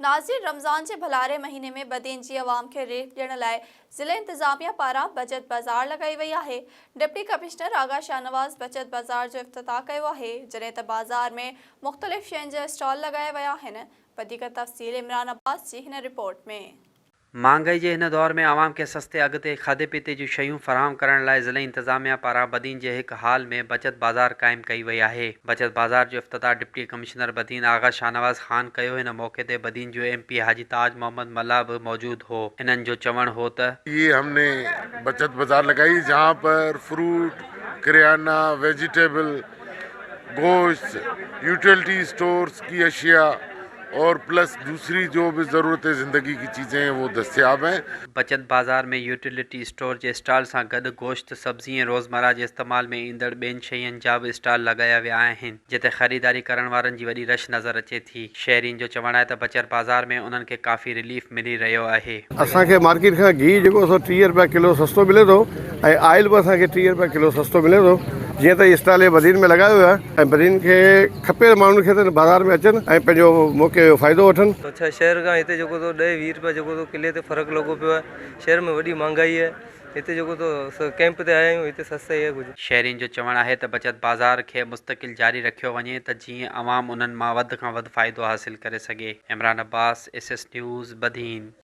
ناظرين رمضان جي ڀلاري مهيني ۾ بدين جي عوام کي ريلف ڏيڻ لاء ضلعي انتظاميه پاران بچت بازار لڳائي وئي آهي، ڊپٽي ڪمشنر آغا شاهنواز بچت بازار جو افتتاح ڪيو آهي، جڏهن ته بازار ۾ مختلف شين جا اسٽال لڳايا ويا آهن، وڌيڪ تفصيل عمران عباس جي هن رپورٽ ۾. مھانگائي جي ھن دور ۾ عوام کي سستي اگھ تي کاڌي پيتي جون شيون فراھم ڪرڻ لاء ضلعي انتظاميا پاران بدين جي ھڪ ھال ۾ بچت بازار قائم ڪئي وئي آھي بچت بازار جو افتتاح ڊپٽي ڪمشنر بدين آغا شاھنواز خان ڪيو ھن موقعي تي بدين جو ايم پي حاجي تاج محمد ملاح به موجود ھو انھن جو چوڻ ھو ته. اھي ھم ني بچت بازار لڳائي جھان پر فروٽ ڪريانا ويجيٽيبل. گوشت، يوٽيلٽي اسٽورز ڪي اشياء اور پلس دوسري جو به ضرورت زندگي ڪي چيزين هين وو دستياب هين. بچت بازار ۾ يوٽيلٽي اسٽور جي اسٽال سان گڏ گوشت، سبزي ۽ روزمره جي استعمال ۾ ايندڙ ٻين شين جا به اسٽال لڳايا ويا آهن، جتي خريداري ڪرڻ وارن جي وڏي رش نظر اچي ٿي. ٿي. شهرين جو چوڻ آهي ته بچر بازار ۾ انهن کي ڪافي رليف ملي رهيو آهي. اسان کي مارڪيٽ کان گيهه جيڪو سو ٽيهه رپيا ڪلو سستو ملي ٿو ۽ آئل به اسان کي ٽيهه رپيا ڪلو سستو ملي ٿو جيئن ته هي اسٽال اهي بدين ۾ لڳايو ويو آهي ۽ بدين کي کپي ته ماڻهن کي ته هن بازار ۾ اچن ۽ پنهنجو موقعي جو فائدو وٺن. اڇا شهر کان هتي جيڪو سو ڏهه ويهه رپيا جيڪو سو ڪلي تي فرق لڳو پيو آهي شهر ۾ وڏي مهانگائي آهي هتي جيڪو تو سو ڪئمپ تي آيا آهيون هتي سستائي آهي ڪجهه. شهرين جو چوڻ آهي ته بچت بازار کي مستقل جاري رکيو وڃي ته جيئن عوام انهن مان وڌ کان وڌ فائدو حاصل ڪري سگهي Imran Abbas, S S news, Badin.